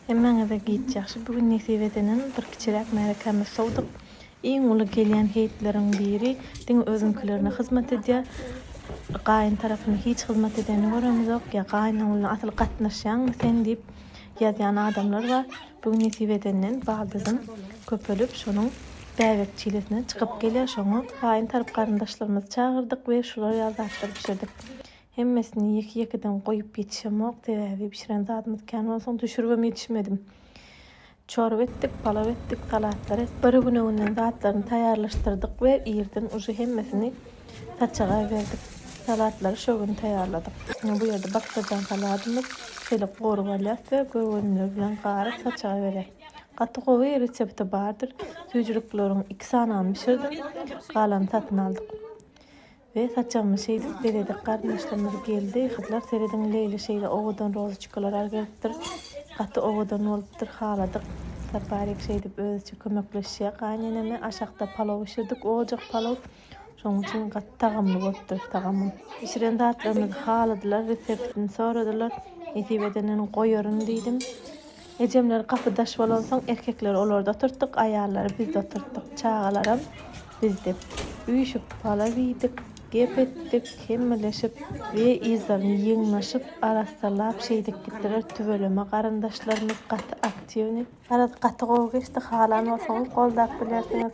Hemmäňize giç ýagşy bu gün nesip edenem bir kiçiräk märekämiz sowdyk. Iň uly gelýän heýtleriň biri diňe özüňkilerine hyzmat edýär. Gaýyn tarapyna hiç hyzmat edenini göremizok. Ýa gaýynyň bilen asyl gatnaşýaňmy sen diýip ýazýan adamlar bar. Bu gün nesip edenden baldyzym köpelip şonuň bäbek çilesine çykyp gelýär. Şoňa gaýyn tarap garyndaşlarymyzy çagyrdyk we şular ýaly zatlar bişirdik. Hemmesini ýeke-ýekeden goýup ýetişemok, sebäbi bişiren zadymyz kän bolsaň düşüribem ýetişmedim. Çorba etdik, palaw etdik, salatlar et. Bir gün öňünden zatlaryny taýýarlaşdyrdyk we irden uje hemmesini saçaga berdik. Salatlary şo gün taýýarladyk. Indi bu ýerde baklajan saladymyz şeýle gurup alýas we göwünler bilen garyp saçaga berýäs. Gaty gowy, resepti bardyr. Süýjülikleriň iki sanyny bişirdim, galany satyn aldyk. Be saçagymy şeýdip bezedik garyndaşlarymyz geldi gyzlar serediň Leýli şeýle owadan rozoçkalarar gelipdir gaty owadan bolupdyr haladyk Saparik şeýdip özüçe kömekleşýä gaýyneneme aşakda palaw bişirdik ojagyk palaw şoň üçin gaty tagamly bolupdyr tagamym. Bişiren zatlarymyzy haladylar reseptini soradylar nesip edeniň goýaryn diýdim. Ejemler gapy-daş bolansoň, erkekleri olarda oturtdyk, aýallary bizde oturtdyk. Çagalaram bizde. Üýşüp, palaw iýdik, gep etdik, hemmeleship we yzlaryny ýygnaşyp, arassalap şeýdip gitdiler. Tüweleme garyndaşlarymyz gaty aktiwnyý. Araz gaty gowy geçdi, halan bolsaňyz goldap bilersiňiz.